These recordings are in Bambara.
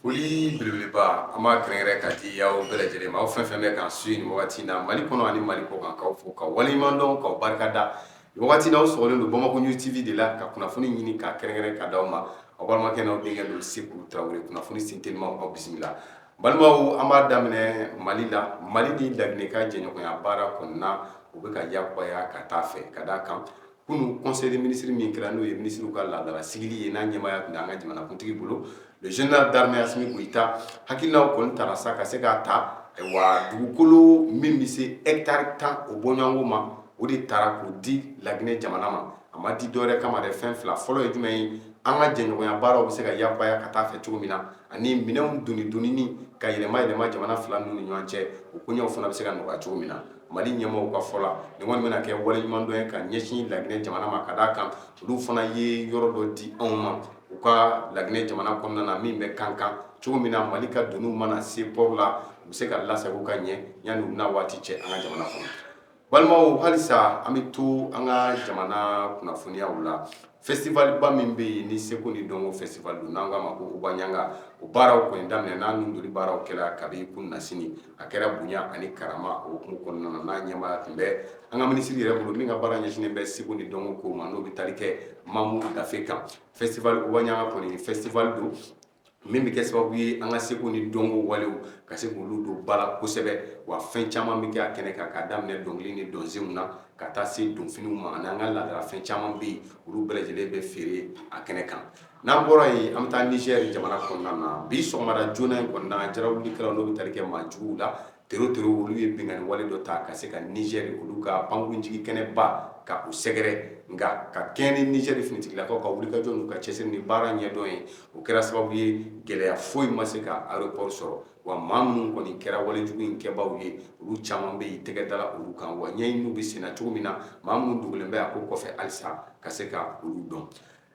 Foli belebeleba an b'a kɛrɛnkɛrɛn ka di aw bɛɛ lajɛlen ma aw fɛn fɛn bɛ k'an suivi nin wagati in na Mali kɔnɔ ani Mali kɔkan k'aw fo k'aw waleɲumandɔn k'aw barikada nin wagati in na aw sɔgɔlen don Bamako news TV de la ka kunnafoni ɲini ka kɛrɛnkɛrɛn ka di aw ma aw balimakɛ n'aw denkɛ don Seku Tarawele kunnafoni sen teliman aw bisimila n balimaw an b'a daminɛ Mali la Mali ni Laginɛ ka jɛɲɔgɔnya baara kɔnɔna u bɛ ka yakubaya ka taa a fɛ ka d'a kan kunun conseil des ministres min kɛra n'o ye minisiriw ka laadala sigili ye n'a ɲɛmaaya tun bɛ an ka jamanakuntigi bolo général d'armée Assimi Goïta hakilinaw kɔni tara sa ka se k'a ta wa dugukolo min bɛ se hectare tan o bɔɲɔgɔnko ma o de tara k'o di laginɛ jamana ma a ma di dɔwɛrɛ kama dɛ fɛn fila fɔlɔ ye jumɛn ye an ka jɛɲɔgɔnya baaraw bɛ se ka yakubaya ka taa fɛ cogo min na ani minɛn doni doni ka yɛlɛma yɛlɛma jamana fila ninnu ni ɲɔgɔn cɛ o koɲɛw fana bɛ se ka nɔgɔya cogo min na mali ɲɛmɔgɔw ka fɔ la nin kɔni bɛna kɛ waleɲumandɔn ye ka ɲɛsin laginɛ jamana ma ka d'a kan olu fana ye yɔrɔ dɔ di anw ma u ka laginɛ jamana kɔnɔna na min bɛ kankan cogo min na mali ka doniw mana se port la u bɛ se ka lasago ka ɲɛ yanni u na waati cɛ an ka jamana kɔnɔ balimaw halisa an bɛ to an ka jamana kunnafoniyaw la festival ba min bɛ yen ni seko ni dɔnko festival don n'an k'a ma ko Ogobaɲa o baaraw kɔni daminɛna ninnu joli baaraw kɛra kabi kunasini a kɛra bonya ani karama o hukumu kɔnɔna na n'a ɲɛmaaya tun bɛ an ka minisiri yɛrɛ bolo min ka baara ɲɛsinnen bɛ seko ni dɔnko ko ma n'o bɛ tali kɛ mamu dafe kan festival Ogobaɲa kɔni festival don min bɛ kɛ sababu ye an ka seko ni dɔnko walew ka se k'olu don ba la kosɛbɛ wa fɛn caman bɛ kɛ a kɛnɛ kan k'a daminɛ dɔnkili ni dɔnsenw na ka taa se donfiniw ma ani an ka laadalafɛn caman bɛ yen olu bɛɛ lajɛlen bɛ feere a kɛnɛ kan n'an bɔra yen an bɛ taa nizɛri jamana kɔnɔna na bi sɔgɔmada joona in kɔnɔna na jarawulikɛlaw n'o bɛ tali kɛ maa juguw la tere tere olu ye binkanni wale dɔ ta ka se ka nizɛri olu ka pankurunjigi kɛnɛba ka o sɛgɛrɛ nka ka kɛɲɛ ni nizɛri finitigilakaw ka wulikajɔ n'u ka cɛsiri ni baara ɲɛdɔn ye o kɛra sababu ye gɛlɛya foyi ma se ka aéroport sɔrɔ wa maa minnu kɔni kɛra wale jugu in kɛbaaw ye olu caman bɛ yen tɛgɛ dala olu kan wa ɲɛɲiniw bɛ senna cogo min na maa minnu dogolen bɛ a ko kɔfɛ halisa ka se ka olu dɔn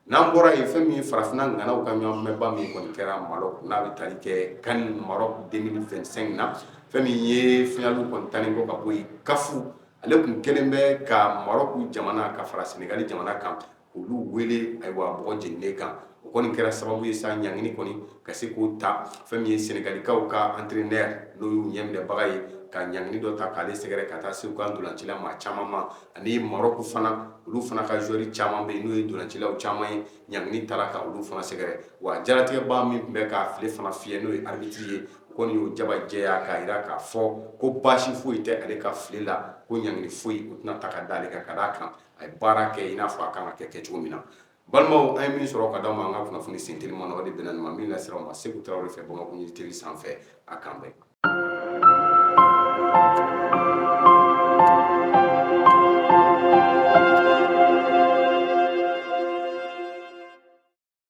n'an bɔra yen fɛn min ye farafinna ŋanaw ka ɲɔgɔnbɛnba min kɔni kɛra marɔku n'a bɛ tali kɛ CAN marɔku deux mille vingt-cinq na fɛn min ye finali kɔni tannen kɔ ka bɔ yen CAF ale tun kɛlen bɛ ka marɔku jamana ka fara sɛnɛgali jamana kan olu wele ayiwa bɔgɔ jeninen kan o kɔni kɛra sababu ye sa ɲangini kɔni ka se k'o ta fɛn min ye sɛnɛgalikaw ka entraîneur n'o y'u ɲɛminɛbaga ye ka ɲangini dɔ ta k'ale sɛgɛrɛ ka taa se u ka ntolacila maa caman ma ani marɔku fana olu fana ka joueur caman bɛ yen n'o ye ntolacilaw caman ye ɲangini tara ka olu fana sɛgɛrɛ wa jaratigɛba min tun bɛ k'a file fana fiyɛ n'o ye arbitre ye o kɔni y'o jaba jɛya k'a jira k'a fɔ ko baasi foyi tɛ ale ka file la ko ɲangini foyi o tɛna ta ka da ale kan ka d'a kan a ye baara kɛ i n'a fɔ a kan ka kɛ kɛcogo min na balimaw an ye min sɔrɔ ka di aw ma an ka kunnafoni senteliman na o de bɛnna nin ma min lasera aw ma seku tarawele fɛ bamakɔ news tele sanfɛ an k'an bɛn